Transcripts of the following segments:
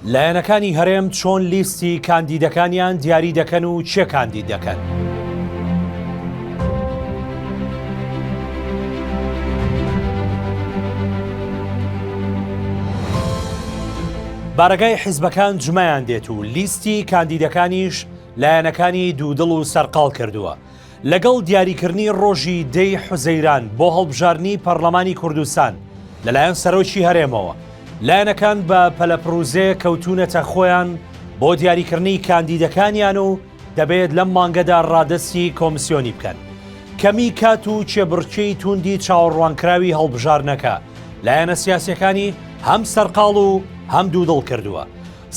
لایەنەکانی هەرێم چۆن لیستی کاندیدەکانیان دیاری دەکەن و چێ کاندید دەکەن؟ بارەگای حیزبەکان جمەیان دێت و لیستی کاندیدەکانیش لایەنەکانی دوودڵ و سەرقاڵ کردووە لەگەڵ دیاریکردنی ڕۆژی دە ی حوزەیران بۆ هەڵبژاردنی پەڕلەمانی کوردستان لەلایەن سەرۆکی هەرێمەوە، لایەنەکان بە پەلەپڕوزێ کەوتوونەتە خۆیان بۆ دیاریکردنی کاندیدەکانیان و دەبێت لەم مانگەدا ڕادەستی کۆمسیۆنی بکەن. کەمی کات و کێبڕکێی تووندی چاوەڕوانکراوی هەڵبژاردنەکە لایەنە سیاسییەکانی هەم سەرقاڵ و هەم دوودڵ کردووە.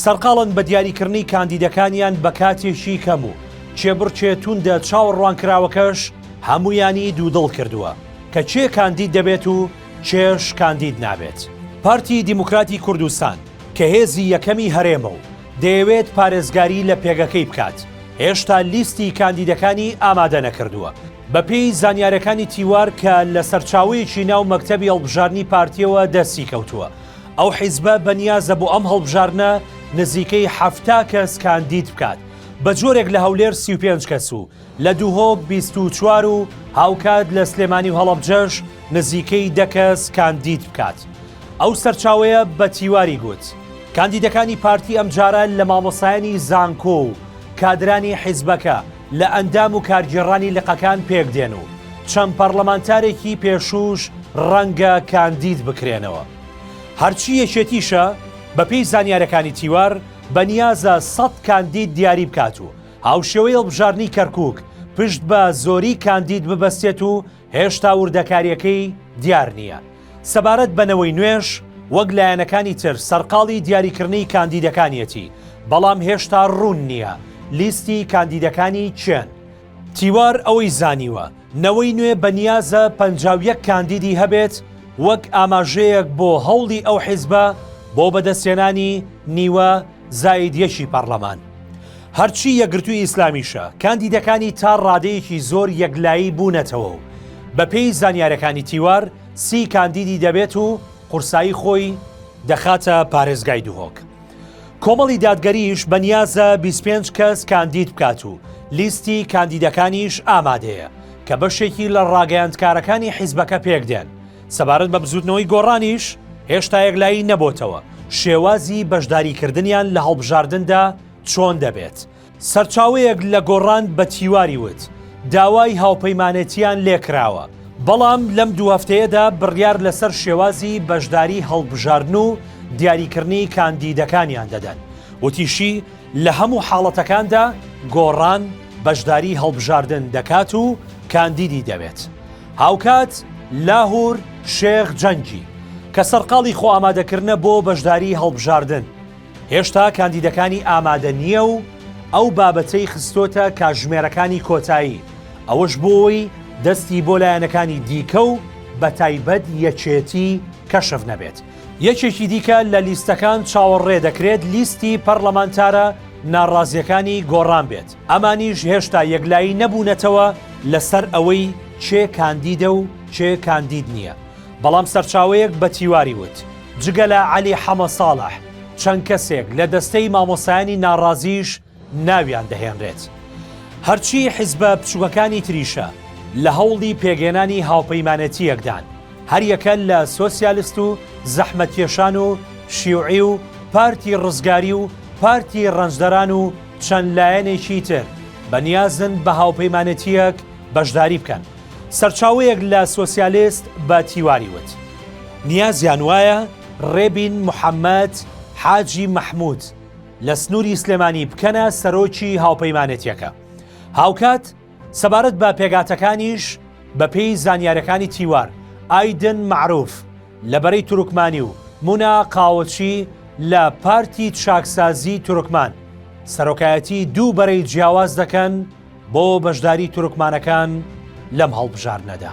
سەرقاڵن بە دیاریکردنی کاندیدەکانیان بە کاتێکی کەم و کێبڕکێ توندە چاوەڕوانکراوەکەش هەموویانی دوودڵ کردووە کە کێ کاندید دەبێت و کێش کاندید نابێت. پارتی دیموکراتی کوردستان کە هێزی یەکەمی هەرێمە و دەیەوێت پارێزگاری لە پێگەکەی بکات، هێشتا لیستی کاندیدەکانی ئامادە نەکردووە. بەپێی زانیارییەکانی تیوار کە لە سەرچاوەیەکی ناو مەکتەبی هەڵبژاردنی پارتییەوە دەستی کەوتووە، ئەو حیزبە بەنیازە بۆ ئەم هەڵبژاردنە نزیکەی حەفتا کەس کاندید بکات، بە جۆرێک لە هەولێر سی و پێنج کەس و لە دهۆک بیست و چوار و هاوکات لە سلێمانی و هەڵەبجەش نزیکەی دە کەس کاندید بکات. ئەو سەرچاوەیە بە تیواری گوت، کاندیدەکانی پارتی ئەمجارە لە مامۆستایانی زانکۆ و کادرانی حیزبەکە لە ئەندام و کارگێڕانی لقەکان پێکدێن و چەند پەڕڵەمانتارێکی پێشووش ڕەنگە کاندید بکرێنەوە. هەرچی یەکێتیشە، بەپێی زانیارەکانی تیوار، بەنیازە سەد کاندید دیاری بکات و هاوشێوەی هەڵبژاردنی کەرکووک، پشت بە زۆری کاندید ببەستێت و هێشتا وردەکارییەکەی دیار نییە سەبارەت بە نەوەی نوێش، وەک لایەنەکانی تر سەرقاڵی دیاریکردنی کاندیدەکانیەتی، بەڵام هێشتا روون نییە لیستی کاندیدەکانی کێن؟ تیوار ئەوەی زانیوە، نەوەی نوێ بە نیازە پەنجا و یەک کاندیدی هەبێت، وەک ئاماژەیەک بۆ هەوڵی ئەو حیزبە بۆ بەدەستهێنانی نیوە، زاید یەکی پەڕلەمان. هەرچی یەکگرتووی ئیسلامیشە، کاندیدەکانی تا ڕادەیەکی زۆر یەکلایی بوونەتەوە و بەپێی زانیارەکانی تیوار سی کاندیدی دەبێت و قورسایی خۆی دەخاتە پارێزگای دهۆک. کۆمەڵی دادگەریش بە نیازە بیست پێنج کەس کاندید بکات و لیستی کاندیدەکانیش ئامادەیە کە بەشێکی لە ڕاگەیاندکارەکانی حیزبەکە پێکدێن. سەبارەت بە بزووتنەوەی گۆڕانیش هێشتا یەکلایی نەبۆتەوە شێوازی بەشداریکردنیان لە هەڵبژاردندا چۆن دەبێت. سەرچاوەیەک لە گۆڕان بە تیواری وت، داوای هاوپەیمانێتییان لێکراوە، بەڵام لەم دوو هەفتەیەدا بڕیار لەسەر شێوازی بەشداری هەڵبژاردن و دیاریکردنی کاندیدەکانیان دەدەن. وتیشی، لە هەموو حاڵەتەکاندا گۆڕان، بەشداری هەڵبژاردن دەکات و کاندیدی دەوێت. هاوکات لاهور شێخ جەنگی کە سەرقاڵی خۆئامادەکردنە بۆ بەشداری هەڵبژاردن، هێشتا کاندیدەکانی ئامادە نییە و ئەو بابەتەی خستۆتە کاژمێرەکانی کۆتایی، ئەوەش بۆی دەستی بۆ لایەنەکانی دیکە و بەتایبەت یەکێتی کەشف نەبێت. یەکێکی دیکە لە لیستەکان چاوەڕێ دەکرێت لیستی پەڕلەمانتارە ناڕازیەکانی گۆڕان بێت، ئەمانیش هێشتا یەکلایی نەبوونەتەوە لەسەر ئەوەی کێ کاندیدە و کێ کاندید نییە، بەڵام سەرچاوەیەک بە تیواری وت، جگە لە عەلی حەمەساڵح چەند کەسێک لە دەستەی مامۆستایانی ناڕازیش ناویان دەهێنرێت. هەرچی حیزبە بچووکەکانی تریشە لە هەوڵی پێکهێنانی هاوپەیمانێتییەکدان، هەریەکە لە سۆسیالست و زەحمەتکێشان و شیوعی و پارتی ڕزگاری و پارتی ڕەنجدەران و چەند لایەنێکی تر بەنیازن بە هاوپەیمانێتییەک بەشداری بکەن. سەرچاوەیەک لە سۆسیالست بە تیواری وت. نیازیان وایە ڕێبین محەمەد حاجی مەحمود، لە سنووری سلێمانی بکەنە سەرۆکی هاوپەیمانێتیەکە هاوکات سەبارەت بە پێگاتەکانیش بەپێی زانیارەکانی تیوار ئایدن معروف لە بەرەی تورکمانی و مونا قاوەچی لە پارتی چاکسازی تورکمان سەرۆکایەتی دوو بەرەی جیاواز دەکەن بۆ بەشداری تورکمانەکان لەم هەڵبژاردنەدا.